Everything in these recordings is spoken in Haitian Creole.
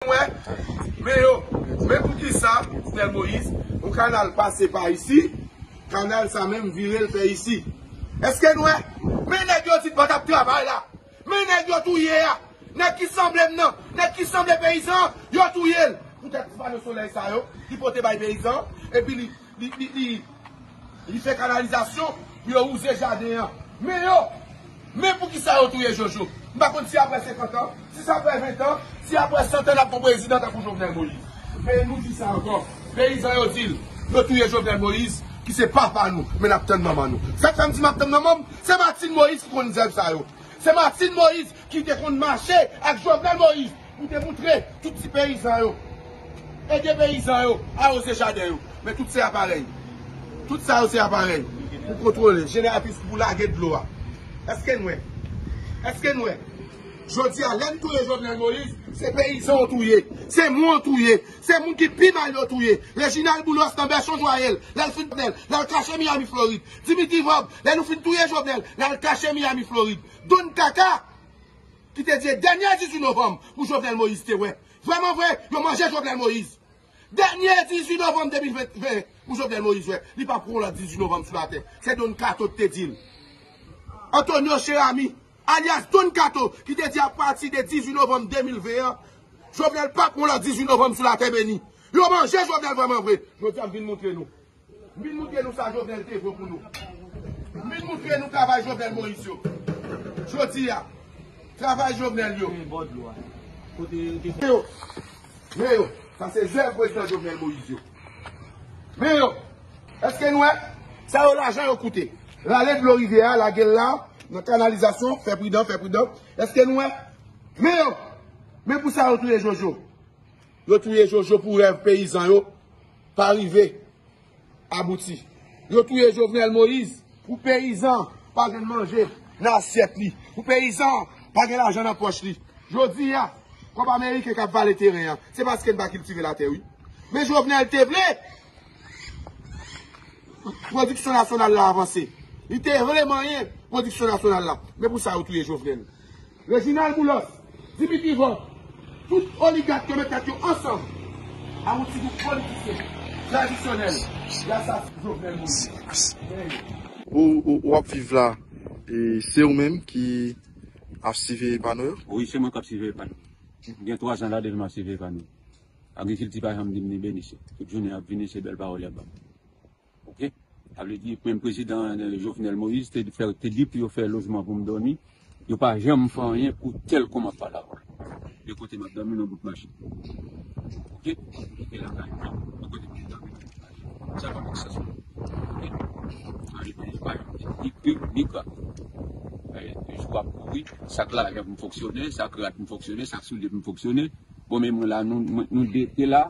Wè men yo men poukisa Stel Moïse yon kanal pase pa isi kanal sa menm virel fè isi eske n wè men nèg yo di patap travay la men nèg yo touye a nèg ki sanblem nan nèg ki sanble peyizan yo touyel poutèt ti pano solèy sa yo ki pote bay peyizan epi li Li fè kanalizasyon pou yo wouze jaden an. Men yo! Men poukisa yo touye Jojo? M pa konn si aprè 50 an, si se aprè 20 an, si aprè 100 an n ap gon prezidan tankou Jovenel Moïse. Men nou di sa ankò, peyizan yo di l, yo touye Jovenel Moïse ki se papa nou, men n ap tann manman nou. Sa k fè m di m ap tann manman m, se Martine Moïse ki konn zèv sa yo. Se Martine Moïse ki te konn mache ak Jovenel Moïse. Pou te moutre tout ti peyizan yo. Ede peyizan yo awoze jaden yo. Men tout se aparèy. Tout sa yo se aparèy pou kontwole jeneratris ki pou lage dlo a. Eske n wè? Eske n wè? Jodi a lè n touye Jovenel Moïse, se peyizan w touye. Se moun w touye. Se moun ki pi mal yo touye. Reginald Boulos nan Berchon Joyel, lè l fin touye l, l al kache Miami Florid. Dimitri Vorbe, lè nou fin touye Jovenel, l al kache Miami Florid. Don Kaka! Ki te di dènye 18 novanm pou Jovenel Moïse te wè. Vrèman vre, yo manje Jovenel Moïse. Dènye 18 novanm 2021 pou Jovenel Moïse wè. Li pa pran yon lòt 18 novanm sou latè. Se Don Kato ki te di l. Antonio Cheramy, alyas Don Kato, ki te di apati de 18 novanm 2020 an, Jovenel pa pran yon lòt 18 novanm sou latè beni. Yo manje Jovenel vrèman vre. Jodi a m vin montre nou. Min moutre nou sa Jovenel te vo pou nou. Min moutre nou travay Jovenel Moïse yo. Jodi a, travay Jovenel yo. Men yo, sa se zèv prezidan Jovenel Moïse yo. Men yo, eske nou wè? Sa yo lajan yo koute. Rale dlo rivyè a, lage l la, nan kanalizasyon, fè pridan, fè pridan. Eske nou wè? Men yo, men pou sa yo touye Jojo. Yo touye Jojo pou rèv peyizan yo. Pa rive abouti. Yo touye Jovenel Moïse. Pou peyizan pa jwenn manje nan asyèt li. Pou peyizan pa gen lajan nan pòch li. Jodi a, kòb ameriken k ap vale teren an. Se paske n pa kiltive latè wi. Men Jovenel te vle pwodiksyon nasyonal la avanse. Li te vle manyen pwodiksyon nasyonal la. Men pou sa yo touye Jovenel. Reginald Boulos, Dimitri Vorbe, tout oligat yo met tèt yo ansanm a yon ti gwoup politisyen tradisyonèl y asasen Jovenel Moise. Gen yo. Ou ap viv la e se ou menm ki ap siveye pa nou yo? Wi se mwen kap siveye pa nou. Gen 3 zan la depi map siveye pa nou. Agrikilti pa janm dim ni beni se tout jounen yap vini se bèl pawòl yap banm. Ok sa vle di menm prezidan jovenel moïse te fè te di pou yo fè lojman pou m dòmi yo pa janm fè anyen pou tèl kòm ap pale avèw gen kote map dòmi nan bout machin ok gen lakay mwen gen kote pou m dòmi nan bout machin sa pa fè sans pou mwen ok sa vle di yo pa janm di ni pi ni pa e jou ap kouri sak lajan pou m fonksyone sak rad pou m fonksyone sak soulye pou m fonksyone bon men mwen la nou 2 te la.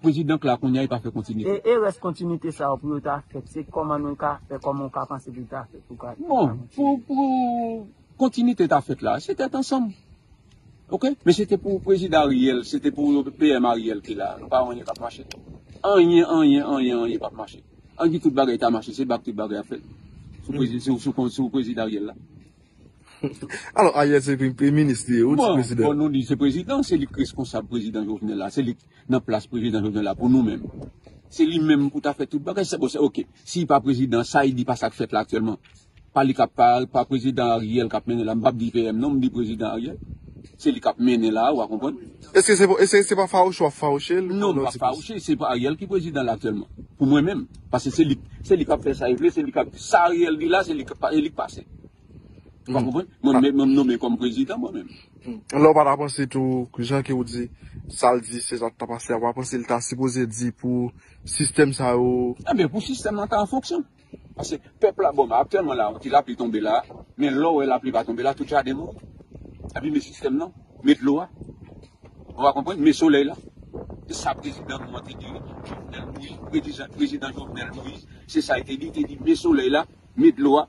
Prezidan k la kounya e pa fè kontinite. E rès kontinite sa yo pou yo ta fèt se kòman nou ka fè, kòman ou ka panse pou l ta fèt pou ka. Bon, pou pou kontinite ta fèt la, se tèt ansanm. Ok, men se te pou prezidan Ariel, se te pou PM Ariel ki la, nou pa wè anyen k ap mache. Anyen, anyen, anyen, anyen p ap mache. An di tout bagay ta mache, se bak tout bagay ap fèt sou prezidan Ariel la. Alò Ariel se premye minis li e ou di prezidan. Bon, bon nou di se prezidan, se li k reskonsab prezidan Jovenel la, se li k. nan plas prezidan jovenel la pou nou menm se li menm pou ta fè tout bagay se bon se ok si li pa prezidan sa li di pa sak fèt la aktyèlman pa li kap pa pa prezidan ariel kap mennen la m pap di PM non m di prezidan ariel se li kap mennen la wa konprann Eske se pou eske se pa fawouche wap fawouche l non m pap fawouche se pa ariel ki prezidan la aktyèlman pou mwen menm paske se li se li kap fè sa li vle se li kap sa ariel di la se li k se li k pase. Ou pa konprann? Mwen menm m nonmen kòm prezidan mwen menm. Lè ou pa ta panse tou jan ke ou di sa l di se sa k ta pase a ou pa panse l ta sipoze di pou sistèm sa yo. Enben pou sistèm lan ta an fonksyon. Pase pèp la bon aktyèlman la yon ti lapli tonbe la men lè w wè lapli pa tonbe la tout jaden mouri. Epi men sistèm lan men dlo a ou pa konprann men solèy la. Se sa prezidan nou an te di wi Jovenel Moïse prezidan Jovenel Moïse se sa l te di l te di men solèy la men dlo a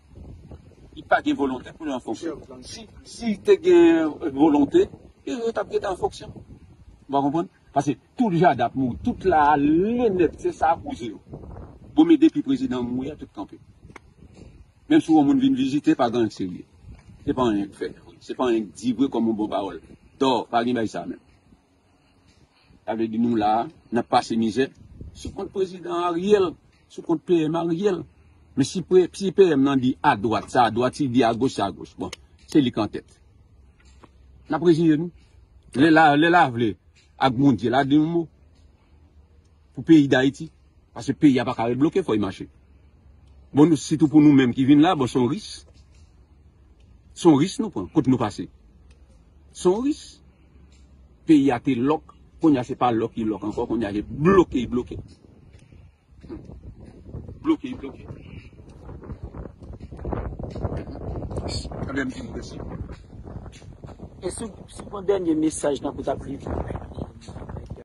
Li pa gen volonte pou li an fonksyon. Si li te gen volonte, yo tap gentan an fonksyon. Ou pa konprann? Pase tout jada ap mouri, tout la ale nèt, se sa koze yo. Bon men depi prezidan mouri a tout kanpe. Menm si yon moun vin vizite pa gen anyen k serye. Se pa anyen k fè vre, se pa anyen k di vre kòm yon bon pawòl. Too, pa gen bagay sa menm. Sa vle di nou la a, n ap pase mizè sou kont prezidan Ariel, sou kont PM Ariel. Men si PM nan di adwat, sa adwat, si l di agoch, sa agoch. Bon, se li k antèt. N ap reziye nou. Lè la a, lè la a vle ak Bondye la di yon mo pou peyi Dayiti. Pase peyi a pa ka ret bloke, fò y mache. Bon, nou sitou pou nou menm ki vin la a, bon se yon ris. Se yon ris nou pran, kote nou pase. Se yon ris. Peyi a te lòk kounye a se pa lòk li lòk ankò kounye a li bloke li bloke bloke li bloke e sou sou yon dènye mesaj tanpri tanpri.